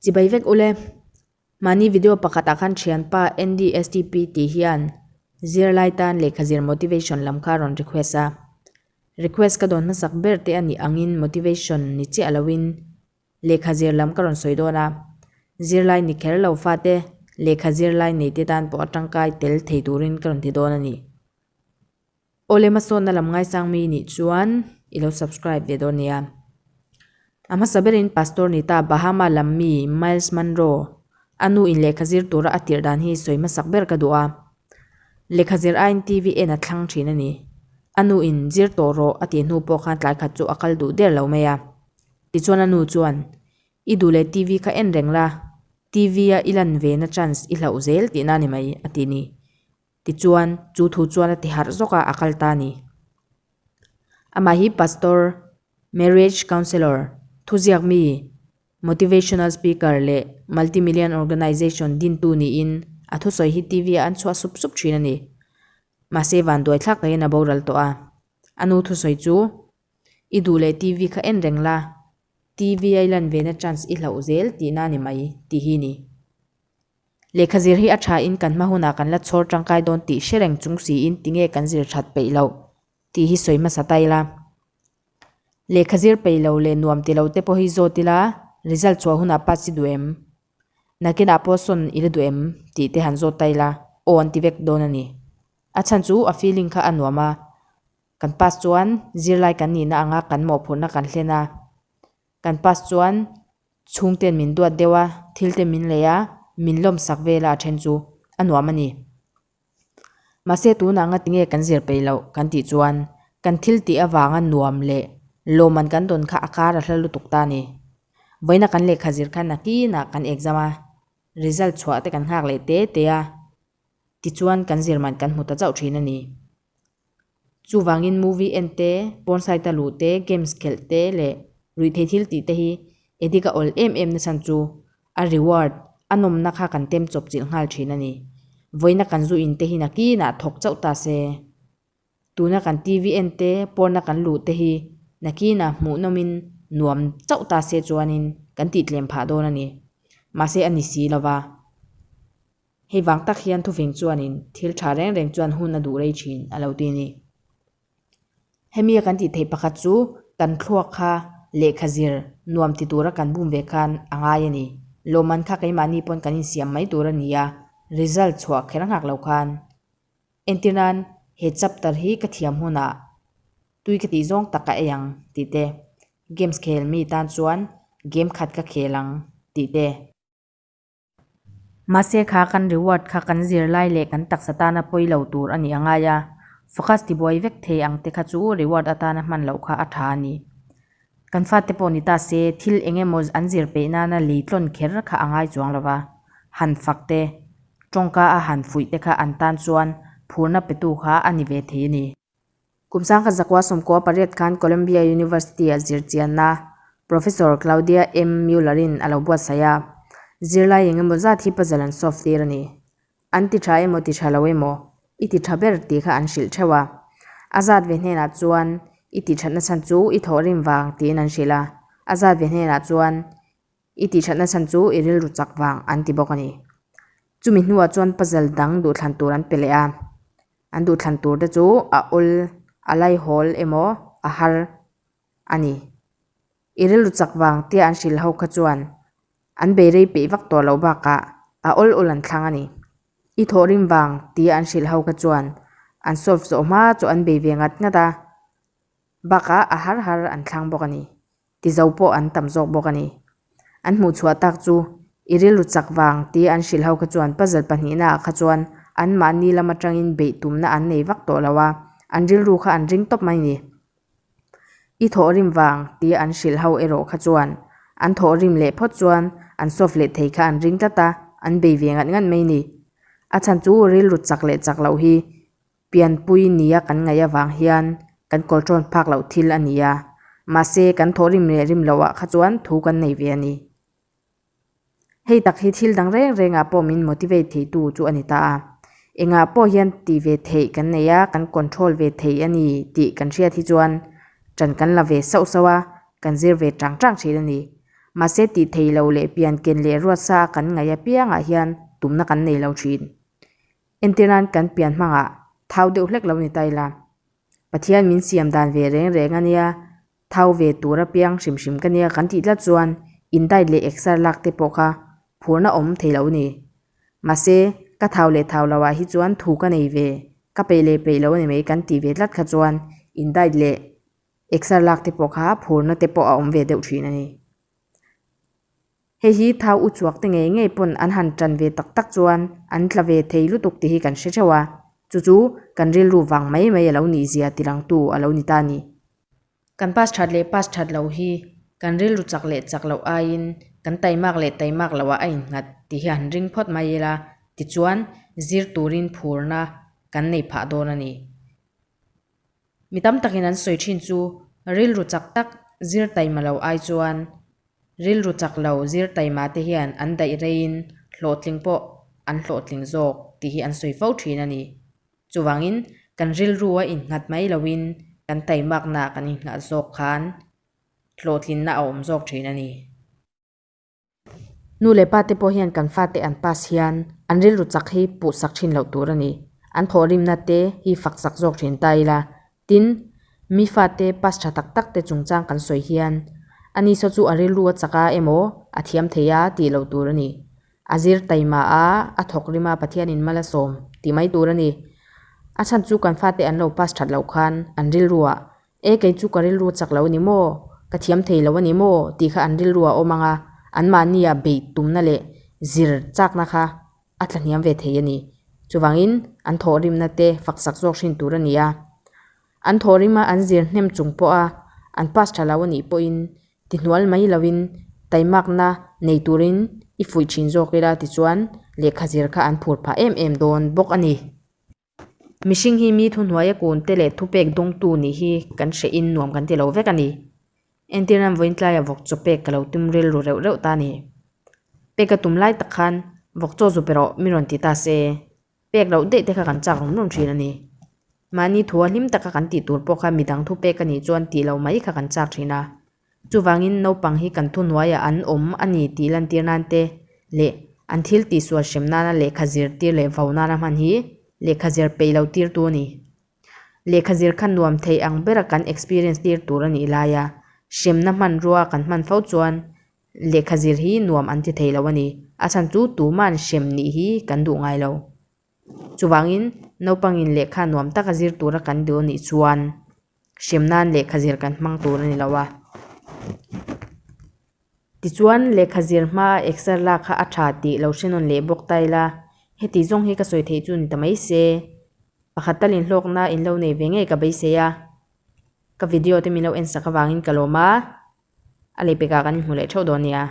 Chibai vek ule, mahni video pakhatah khan thianpa NDSTP tih hian zirlai tan lehkha zir motivation lam kha a rawn request a. Request ka dawn hmasak ber te a nih angin motivation ni chiah loin lehkha zir lam ka rawn sawi dawn a. Zirlai ni kher lo fate lehkha zirlai nei te tan pawh a tangkai tel thei turin ka rawn ti dawn a ni. Aw le hmasawnna lam ngaisang mi nih chuan i lo subscribe ve dawn nia. A hmasa berin Pastor Nita Bahama lam mi Miles Monroe a nu in lehkha zir tura a tirh dan hi sawi hmasak ber ka duh a. Lekha zir aiin TV en a thlang thin a ni. A nu in zir tawh rawh a tih hnu pawh khan tlai khat chu a kal duh der lo mai a. Tichuan a nu chuan, I duh leh TV kha en reng la, TV a i lan ve na chance i hlauh zel tihna a ni mai a ti ni. Tichuan, chu thu chuan a ti harh zawk a, a kal ta ni. Amah hi pastor, marriage counsellor, thuziak mi, motivational speaker leh multimillion organisation dintu niin a thusawi hi TV-ah an chhuah sup sup thin a ni. Mahse van duai thlak takin a boral tawh a, a nu thusawi chu, I duh leh TV kha en reng la, TV-a i lan vena chance i hlauh zel tihna a ni mai, tih hi a ni. Lehkha zir hi a tha in kan hma hunah kan la chhawr tangkai dawn tih hre reng chung si in tinge kan zir that peih loh tih hi sawi hmasa ta ila. Lehkha zir peih lo leh nuam ti lo te pawh hi zawt ila, result chhuah hunah pass i duh em? Nakinah pawh sawn i la duh em? tih te han zawt ta ila, aw an ti vek dawn a ni. A chhan chu a feeling kha a nuam a, kan pass chuan zirlai kan nihna anga kan mawhphurhna kan hlen a, Kan past chuan chhungte'n min duat deuh a, thilte min lei a, min lawm sak vel a a then chu a nuam a ni. Mahse tunah anga tinge kan zir peih loh kan tih chuan kan thil tih avanga nuam leh lawm an kan dawn kha a kar a hla lutuk ta a ni. Vawiina kan lehkha zir khan a hnginah kan exam a result chhuah te kan nghak leh te te a, Tichuan kan zirman kan hmu ta chauh thin a ni. Chuvangin movie en te, porn site a luh te, games khelh te leh ruihthei thil tih te hi addict a awl em em nasan chu a reward, a nawmna kha kan tem chawp chilh nghal thin a ni. Vawina kan zu in te hi nakinah thawk chauh ta se. Tuna kan TV en te, porn a kan luh te hi nakinah hmuhnawmin nuam chauh ta se chuanin kan tihtlem phah dawn a ni. Mahse a ni si lova. Hei vang tak hian Thuving chuanin thil tha reng reng chuan hun a duh rei thin a lo ti a ni. Hemi a kan tih theih pakhat chu kan thluak kha lehkha zir nuam ti tura kan bum ve khan a ngai a ni. Lawmman kha keimahni pawn kan insiam mai tur a ni a, result chhuah kher nghak lo khan. Entir nan he chapter hi ka thiam hunah tui ka tih zawng tak a ei ang tih te, games khel mi tan chuan game khat ka khel ang tih te, Mahse kha kan reward kha kan zirlai leh kan taksa tana pawi lo tur a nih a ngai a, focus tibuai vek thei ang te kha chu reward atana hman loh kha a tha a ni. Kan fate pawh ni ta se thil eng emaw an zir peih nana lei tlawn kher kha a ngai chuang lo va, han fak te, tawngka a han fuih te kha an tan chuan phurna petu kha a ni ve thei a ni. Kum sangkhat zakua sawmkua pariat khan Columbia University-ah zirchianna Professor Claudia M. Mueller-in a lo buatsaih a, Zirlai eng emaw zat hi puzzle an solve tir a ni. An ti tha emaw ti tha lo emaw, i ti tha ber tih kha an hrilh theuh a. A zat ve hnenah chuan i ti thatna chhan chu i thawh rim vang tiin an hrilh a, a zat ve hnenah chuan I tihthatna chhan chu i rilru chak vang, an ti bawk a ni. Chumi hnuah chuan puzzle dang duhthlan tur an pe leh a. An duhthlan tur te chu a awl, a laihawl emaw a har a ni. I rilru chak vang tia an hrilh ho kha chuan an beirei peih vak tawh loh bakah a awl awl an thlang a ni. I thawh rim vang tia an hrilh ho kha chuan an solve zawh hma chu an bei ve ngat ngat a, bakah a har har an thlang bawk a ni. ti zo pawh an tam zawk bawk a ni. An hmuh chhuah tak chu i rilru chak vang tia an hrilh ho kha chuan puzzle pahnihna ah kha chuan anmahni lam atangin beih tumna an nei vak tawh lo a, an rilru kha an ring tawp mai ni. I thawh rim vang tia an hrilh ho erawh kha chuan an thawh rim leh phawt chuan an solve leh thei kha an ring tlat a, an bei ve ngat ngat mai ni. A chhan chu rilru chak leh chak loh hi Pianpui nia kan ngaih avang hian kan kawl tawn phak loh thil a ni a, mahse kan thawh rim leh rim loh ah kha chuan thu kan nei ve a ni. Hei tak hi thil dang reng reng ah pawh min motivate thei tu chu a ni ta a, engah pawh hian ti ve theih kan nei a, kan control ve thei a ni tih kan hriat hi chuan tan kan la ve sauh sauh a, kan zir ve tang tang thin a ni. Mahse tih theih loh leh pian ken leh ruat sa a kan ngaih apiang ah hian tumna kan nei lo thin. Engtin ran kan pian hmangah thau deuh hlek lo ni ta ila? Pathian min siam dan ve reng reng a nia, thau ve tur a piang hrim hrim ka nia kan tih tlat chuan indite leh exer lak te pawh kha phurna awm thei lo ni. Mahse, ka thau leh thau lo ah hi chuan thu ka nei ve, ka peih leh peih lo ni mai kan tih ve tlat kha chuan indite leh exer lak te pawh kha phurna te pawh a awm ve deuh thin a ni. Hei hi thau u chhuak te ngei ngei pawn an han ṭan ve tak tak chuan an tla ve thei lutuk tih hi kan hre ṭheuh a, chu chu kan rilru vang mai mai a lo ni zia tirang tu a lo ni ta ni. Kan pass ṭhat leh pass ṭhat loh hi kan rilru chak leh chak loh aiin kan tai mak leh tai mak lohah a inghat tih hi han ring phawt mai ila, tichuan zir turin phurna kan nei phah dawn a ni. Mi tam takin an sawi thin chu rilru chak tak zirtaima lo ai chuan rilru chak lo zirtaima te hian an daih reiin hlawhtling pawh an hlawhtling zawk tih hi an sawi fo thin a ni. Chuvangin kan rilrua innghat mai loin kan taimakna kan inngah zawk khan hlawhtlinna a awm zawk thin a ni. Nu leh pa te pawh hian kan fate an pass hian an rilru chak hi puhsak thin loh tur a ni. An thawhrimna te hi faksak zawk thin ta ila. Tin, mi fate pass tha tak tak te chungchang kan sawi hian a ni saw chu a rilru a chak a emaw a thiam thei a tih loh tur a ni. A zir taima a, a thawkrima Pathianin mal a sawm tih mai tur a ni. A chhan chu kan fate an lo pass that loh khan an rilruah E kei chu ka rilru chak lo a ni maw, ka thiam thei lo a ni maw tih kha an rilru a awm ang a, anmahnia beih tumna leh zir chakna kha a thlahniam ve thei a ni. Chuvangin an thawhrimna te faksak zawk hrin tur a ni a. An thawhrima an zir hnem chung pawha an pass tha lo a nih pawhin tihnual mai lovin taimakna nei turin i fuih thin zawk ila tichuan lehkha zir kha an phur phah em em dawn bawk a ni. Mihring hi mi thuhnuaia kunte leh thupek dawngtu nih hi kan hrehin nuam kan ti lo vek a ni. Entir nan vawiin tlaiah vawk chaw pek ka lo tum rilru reuh reuh ta a ni. Pek a tum lai tak khan vawk chaw zu pe rawh min rawn ti ta se, pek loh daih te kha kan chak rum rum thin a ni. Mahni thu a hlim taka kan tih tur pawh kha midang thupek a nih chuan tih lo mai kha kan chak thin a, Chuvangin naupang hi kan thuhnuaiah an awm a ni tih lantir nan te leh an thil tihsual hrem nana lehkha zir tir leh vau nana hman hi lehkha zir peih lo tirtu a ni. Lehkha zir kha nuam theih ang bera kan experience tir tur a nih lai a, hremna hmanrua kan hman fo chuan lehkha zir hi nuam an ti thei lo a ni. A chhan chu tuman hrem nih hi kan duh ngai lo. Chuvangin, naupangin lehkha nuam taka zir tura kan duh anih chuan hriam nan lehkha zir kan hmang tur a ni lo a. Tichuan, lehkha zir hmaa exer lak kha a tha tih lo hre nawn leh bawk ta ila, heti zawng hi ka sawi theih chu ni ta mai se. Pakhat tal inhlawkna in lo nei ve ngei ka beisei a, ka video te min lo en sak avangin ka lawm a, a leipekah kan inhmu leh theuh dawn nia.